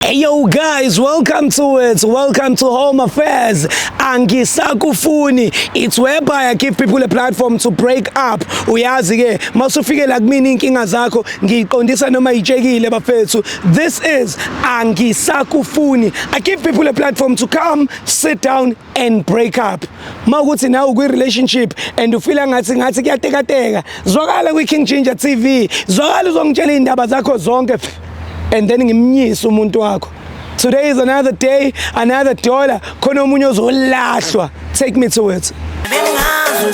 Hey yo guys, welcome to it. Welcome to Home Affairs. Angisakufuni. It's whereby I give people a platform to break up. Uyazi ke, masufike la kumina inkinga zakho, ngiqondisa noma itshekile bafethu. This is Angisakufuni. I give people a platform to come, sit down, and break up uma ukuthi nawe ukwi-relationship and ufila ngathi ngathi kuyatekateka zwakala kwi-king ginger tv zwakala uzongitshela iy'ndaba zakho zonke and then ngimnyise umuntu wakho today is another day another dollar khona omunye ozolahlwa take me to it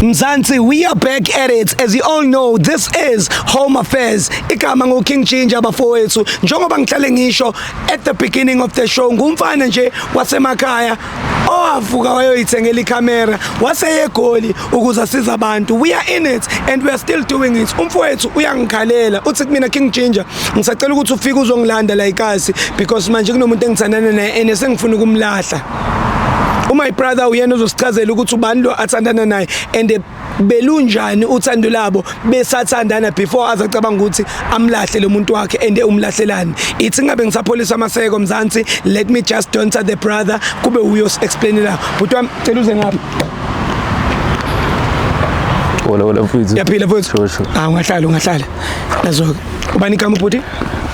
Mzansi, we are back at it. As you all know, this is Home Affairs. Igama ngo King Ginger bafowethu. Njengoba ngihlale ngisho at the beginning of the show, ngumfana nje wasemakhaya owavuka wayoyithengela ikhamera waseyegoli ukuze asize abantu we are in it and we are still doing it umfowethu uyangikhalela uthi kumina king ginger ngisacela ukuthi ufike uzongilanda la ikasi because manje kunomuntu engithandana naye and esengifuna ukumlahla umy brother uyena uzosichazela ukuthi ubani lo athandana naye and belunjani uthando labo besathandana before aze acabanga ukuthi amlahle lo muntu wakhe ende umlahlelani ithi ngabe ngisapholisa amaseko mzansi let me just don't the brother kube uyos explainela bhuti wami cela uze ngapha wala wala mfuthu yaphila mfuthu sure sure ah ungahlala ungahlala nazo ubani igama bhuti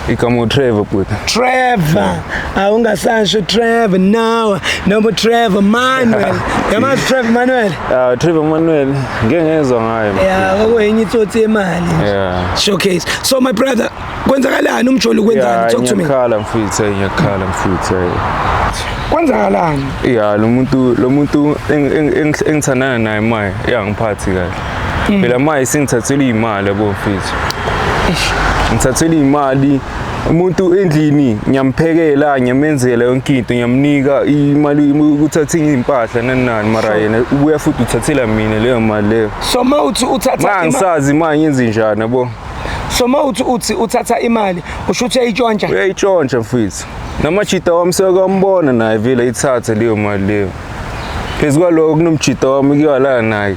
Igama uTrevor bhuti. Trevor. Awungasasho Trevor no. Noma Trevor Manuel. Yamazi Trevor Manuel. Ah Trevor Manuel ngeke ngezwa ngaye. Yeah, okwenye itsotsi yemali. Yeah. Showcase. So my brother, kwenzakalani umjoli kwenzani? Talk to me. Ngiyakhala mfuthu, ngiyakhala mfuthu. Kwenzakalani? Yeah, lo muntu lo muntu engithandana naye manje, yangiphathi kahle. Mm. phela manje singithathela iy'mali yabo mfethu ngithathela iy'mali umuntu endlini ngiyamphekela ngiyamenzela yonke into ngiyamnika imali ukuthatha iy'mpahla nani nani mara yena ubuya futhi uthathela mina leyo mali leyo so uma uthi uthatha ma ima- ngisazi ma ngenze njani yabo so uma uthi uthi uthatha imali usho ukuthi uyayitshontsha uyayitshontsha mfethu namajita wami sekwambona naye vele ithathe leyo mali leyo phezu kwaloko kunomjita wami ukuyalala naye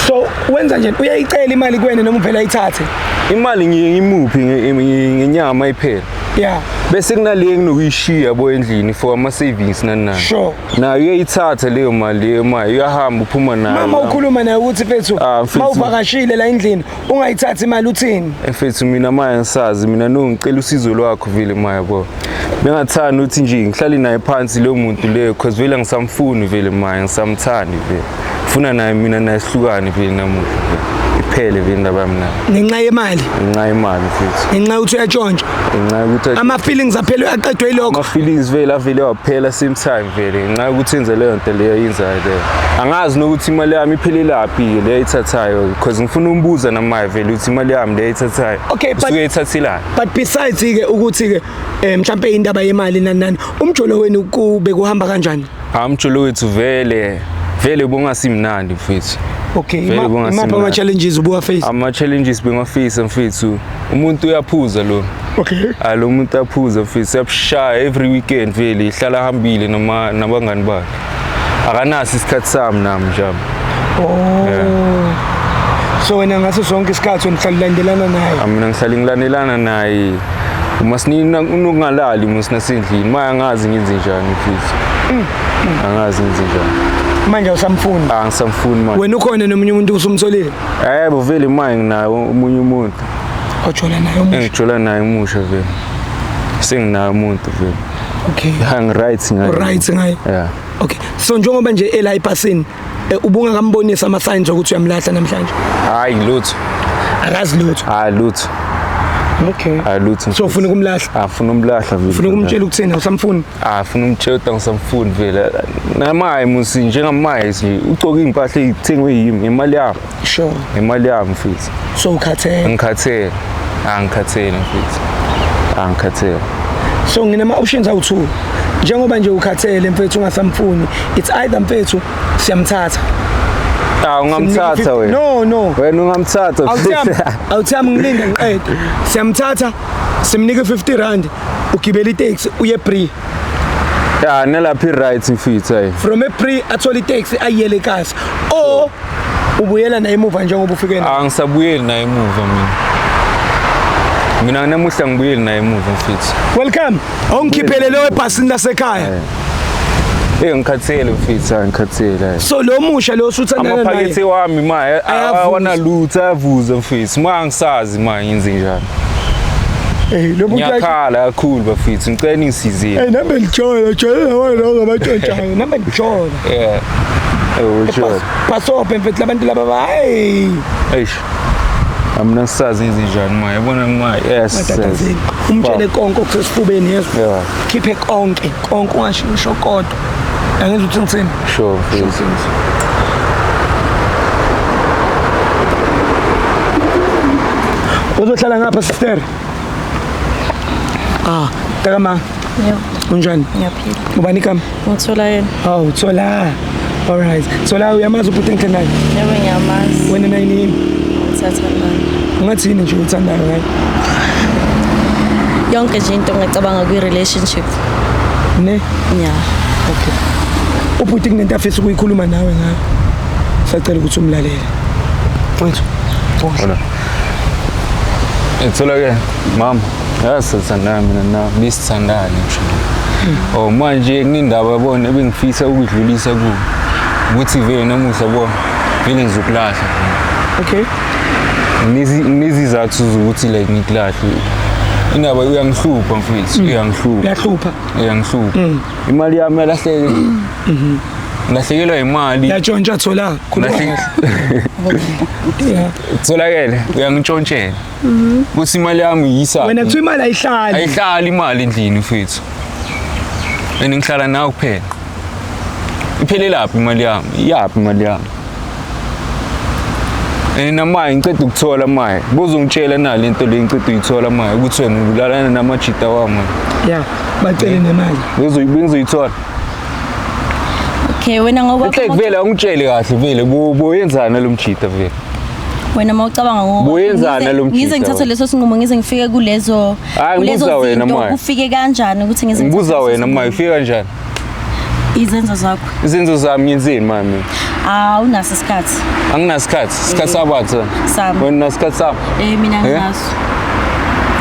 so wenza nje uyayicela imali kwene noma uvela ayithathe imali ngiye ngimuphi nge- nge- ngenyama iphela ya bese kunale enginokuyishiya bo endlini for ama-savings nani nani Sure. nayo uyayithatha leyo mali leyo mali uyahamba uphuma nayo mama ukhuluma naye ukuthi fethu Ah, mfethu. ma uvakashile la endlini ungayithathi imali uthini efethu mina maya ngisazi mina no ngicela usizo lwakho vile maya bo bengathanda ukuthi nje ngihlale naye phansi leyo muntu leyo cause vele angisamfuni vele maya ngisamthandi vele funa naye mina naye sihlukane vele namuhla vele iphele vele indaba yami naye ngenxa yemali ngenxa yemali futhi ngenxa yokuthi uyatshontsha ngenxa yokuthi athi- ama-feelings aphele uyaqedwa yilokho ama-feelings vele avele waphela same time vele ngenxa yokuthi enze leyo nto leyo yenzayo angazi nokuthi imali yami iphelelaphi le ayithathayo because ngifuna umbuza namaye vele ukuthi imali yami le ayithathayo Okay, but- usuke ethathelani but besides ke ukuthi ke eh, mhlambe indaba yemali nani nani umjolo wenu kube kuhamba kanjani hayi umjolo wethu vele vele ubungasimnandi mfethu okay Vele ima- kungasimnandi. imaphi ama challenges ubuwa face ama-challenges bengafisa mfethu umuntu uyaphuza lo okay hayi lo muntu aphuza mfethu uyabushaya every weekend vele ihlala ahambile nama- nabangani bakhe akanaso isikhathi sami nami njalo oh yeah. so wena ngaso sonke isikhathi wena uhlalulandelana naye mina ngihlale ngilandelana naye uma sinina unokungalali uma sinasendlini maya ngazi ngenze njani futhi mm, mm. angazi ngenze njani manje usamfuni ah ngisamfuni manje wena ukhona nomunye umuntu usumsolile eh bo vele manje nginaye umunye umuntu ojola naye umusha engijola naye umusha vele senginaye umuntu vele Okay. Hang right ngaye. Right ngaye. Yeah. Okay. So njengoba nje ela ipasini eh, ubungakambonisa ama signs ukuthi uyamlahla namhlanje. Hayi lutho. Akazi lutho. Hayi lutho. Okay. Hayi lutho. So ufuna ukumlahla? Afuna ah, umlahla vile. Ufuna ukumtshela ukuthina usamfuni? Afuna ah, umtshela ukuthi angisamfuni vele. Namaye musi njengamaye nje ugcoka impahla ezithengwe yimi ngemali yakho. Sure. Imali yami mfethu. So ukhathele. Ngikhathele. Angikhathele mfethu. Angikhathele. So nginama options awu2. Njengoba nje ukhathele mfethu ungasamfuni. It's either mfethu siyamthatha. Ah ungamthatha wena. No no. Wena ungamthatha. Awuthami. Awuthami ngilinde ngiqede. Siyamthatha simnike 50 rand ugibela itaxi uye free ya nelaphi right mfitha hey from a pre athola itaxi ayiyele kasi o ubuyela naye emuva njengoba ufike naye angisabuyeli naye emuva mina mina namuhla ngibuyeli naye emuva mfitha welcome ongikhiphele lewe ebhasini lasekhaya Eh ngikhathele mfitha ngikhathele. So lo musha lo usuthandana naye. Amaphakethe wami ma awana lutho avuze mfitha. Ma ngisazi ma ngenze njani. Hey lo muntu ngiyakhala kakhulu bafethu ngicela ningisizile. Hey nami ngijole jole lawo lo ngabatshotshayo nami ngijole. Yeah. Ewujole. Basope mfethu labantu laba bayi. Eish. Amna sazi izinjani ma yabona ma yes. Umtshele konke okusesifubeni yeso. Yeah. Khiphe konke konke ungasho kodwa. Angizwa ukuthi ngithini. Sure. Sure things. Uzohlala ngapha sister. Ah, taka ma. Yebo. Unjani? Ngiyaphila. Ubani kama? Ngithola yena. Oh, uthola. All right. Thola uyamazi ubhuti engithandayo? Yebo ngiyamazi. Wena naye nini? Sathandana. Ungathini nje uthandayo ngaye? Yonke nje into ngicabanga kwi relationship. ne nya okay ubhuti kunento afisa ukuyikhuluma nawe ngayo sacela ukuthi umlalele mfethu Bona. Ngithola ke mama yasithandana mina na bisithandane nje. Oh manje kunendaba yabona ebengifisa ukudlulisa ku ukuthi vele namuhla bo vele ngizokulahla. okay nginezizathu zokuthi like ngikulahle indaba uyangihlupha mfethu mm. uyangihlupha uyahlupha uyangihlupha mm. imali yami yalahleke mm-hmm. ngilahlekelwa imali yatshontsha thola tholakele uyangintshontshela mm-hmm. kuthi imali yami yisa wena kuthiwa imali ayihlali ayihlali imali endlini mfethu and ngihlala nawe kuphela iphelelaphi imali yami iyaphi imali yami Nina maye ngiceda ukuthola maye. Buza ungitshela na lento le ngiceda uyithola maye ukuthi wena ubulalana namajita wami. Yeah, bacele nemali. Buza bengizoyithola. Okay, wena ngoba Inhle vele ungitshele kahle vele boyenzana lo mjita vele. wena uma ucabanga ngo- Buyenzana ngize- lo mjita ngize ngithathe wena. leso sinqumo ngize ngifike kulezo Hhayi, kulezo ngibuza wena, zinto, Maya. kufike kanjani ukuthi ngize Ngibuza ngithathe leso wena sinqumo. maye ufika kanjani? Izenzo zakho. Izenzo zami ngenzeni mami? Ah unaso isikhathi. Anginasikhathi. Isikhathi eh, sabatha. Sami. Wena unasikhathi sami. Eh mina eh? nginaso.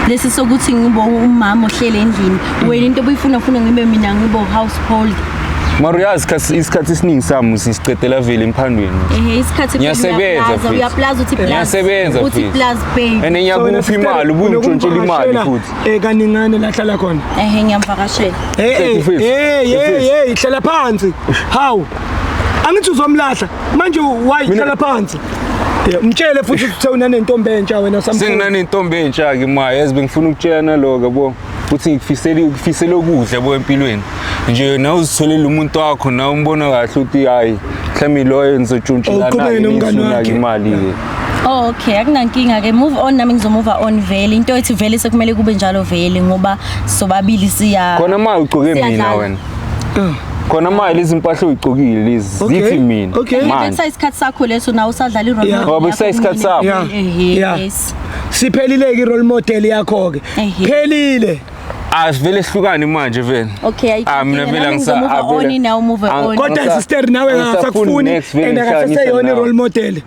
Lesi sokuthi ngibo umama ohlele endlini. Wena into obuyifuna ufuna ngibe mina ngibo household. Mara uyazi isikhathi esiningi sami sisicedela vele emphandweni. Ehhe isikhathi ngiyasebenza futhi. Uyaplaza uthi plaza. Ngiyasebenza futhi. Uthi plaza pay. And ngiyakupha imali ubuntshontshela imali futhi. Eh kaningane la hlala khona. Eh ngiyamvakashela. Eh eh eh eh eh hlala phansi. Hawu. Angithi uzomlahla. Manje why hlala phansi? Mtshele futhi uthe unanentombi entsha wena samkhulu. Senginanentombi entsha ke ma yazi bengifuna ukutshela naloka bo. Uthi ngikufisela ukufisela okuhle bo empilweni. Nje na uzitholela umuntu wakho na umbona kahle uthi hayi mhlawumbe loyo nizotshuntshelana imali ke. Oh okay akunankinga ke move on nami ngizomove on vele into ethi vele sekumele kube njalo vele ngoba sobabili siya Khona ma ugcoke mina Siyadlala. wena. Khona ma lezi mpahla uyigcokile lezi Okay, zithi mina. okay. Manje. Bekusa isikhathi sakho leso nawe usadlala i-role Yeah. model Ngoba bekusa yakho isikhathi sakho. Yeah. Ehhe, Yeah. yes. siphelileke i-role model yakho-ke Ehhe. phelile Asivele sihlukane manje vele. Okay, ayikho Ah, mina inkinga. vele Nami angisa- ngizomove ah, vele- on, nawe move ah, on. kodwa Ngisa- sister nawe ngisa full akasakufuni next vele and ngihlala akasaseyona ngisana. i-role model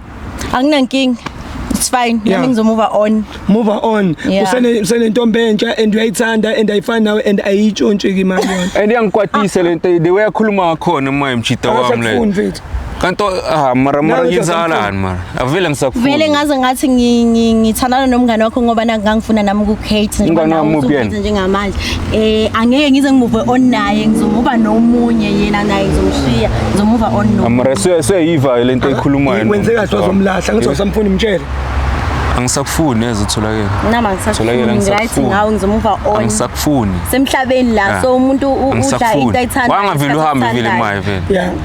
anginankinga it's fine yeah. nami ngizomove on move on yeah. usene usenentombi entsha and uyayithanda and ayifani nawe and ayitshontshe ke imali yona and iyangikwatisa lento the way akhuluma ngakhona uma imjita wami le kanti ah mara mara ngizalani mara avele ngisakufuna vele ngaze ngathi ngithandana nomngane wakho ngoba nangangifuna nami ku Kate njengamanje Eh angeke ngize ngimuve on naye ngizomuva nomunye yena naye ngizomshiya ngizomuva on no. Amara se seyiva le nto ekhulumayo. Wenze kahle wazomlahla ngithi usamfuni mtshele. Angisakufuni neze utholakele. Nama ngisakufuni right ngawo ngizomuva on. Angisakufuni. Semhlabeni la ah. so umuntu udla into ayithanda. Wangavile uhambe vile maye vele.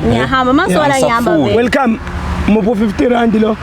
Ngiyahamba masona ngihamba vele. Welcome. Mubo 50 rand lo.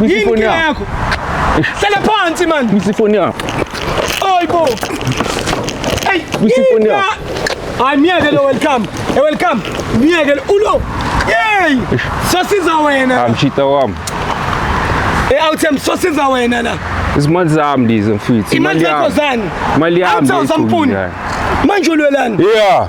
Yini phone inkinga yakho. yakho? Hlala phansi man. Ngisi phone yakho. Oyibo. Hey, Ngisi phone inkinga- yakho. Hayi myeke lo welcome. Eh welcome. Myeke lo ulo. Yey! Sosiza wena. Ah mshita wami. Eh awuthembi sosiza wena la. Izimali zami lezi mfethu. Imali yakho zani? Imali yami. Awuthi awusampuni. Manje ulwelani? Yeah.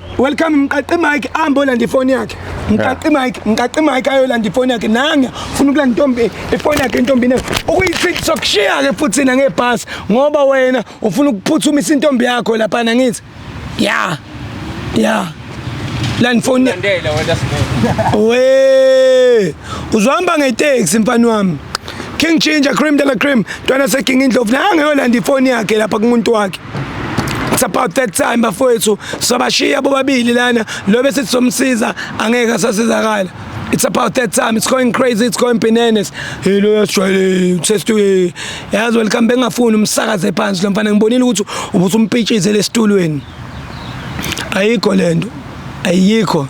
Welcome mqaqi Mike ambo landa ifoni yakhe. Mqaqi Mike, mqaqi Mike ayolanda ifoni yakhe. Nanga ufuna ukulanda intombi ifoni yakhe intombi ne. Ukuyithithi sokushiya ke futhi na ngebhasi ngoba wena ufuna ukuphuthumisa intombi yakho lapha na ngithi. Yeah. Yeah. Landa ifoni. Landela wena sibona. We uzohamba ngeteksi mfana wami king ginger cream de la cream ntwana seking indlovu naye angeyolanda ifoni yakhe lapha kumuntu wakhe it's about that time bafowethu sobashiya bobabili lana lo bese sizomsiza angeke asasizakala it's about that time it's going crazy it's going bananas hey lo yasijwayele usestu yazi welcome bengafuni umsakaze phansi lo mfana ngibonile ukuthi ubusumpitshize lesitulweni ayikho lento ayikho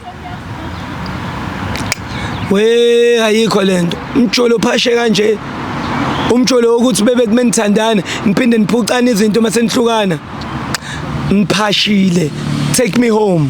we ayikho lento umjolo phashe kanje umjolo wokuthi bebe kumenithandana niphinde niphucane izinto uma senihlukana ngiphashile take me home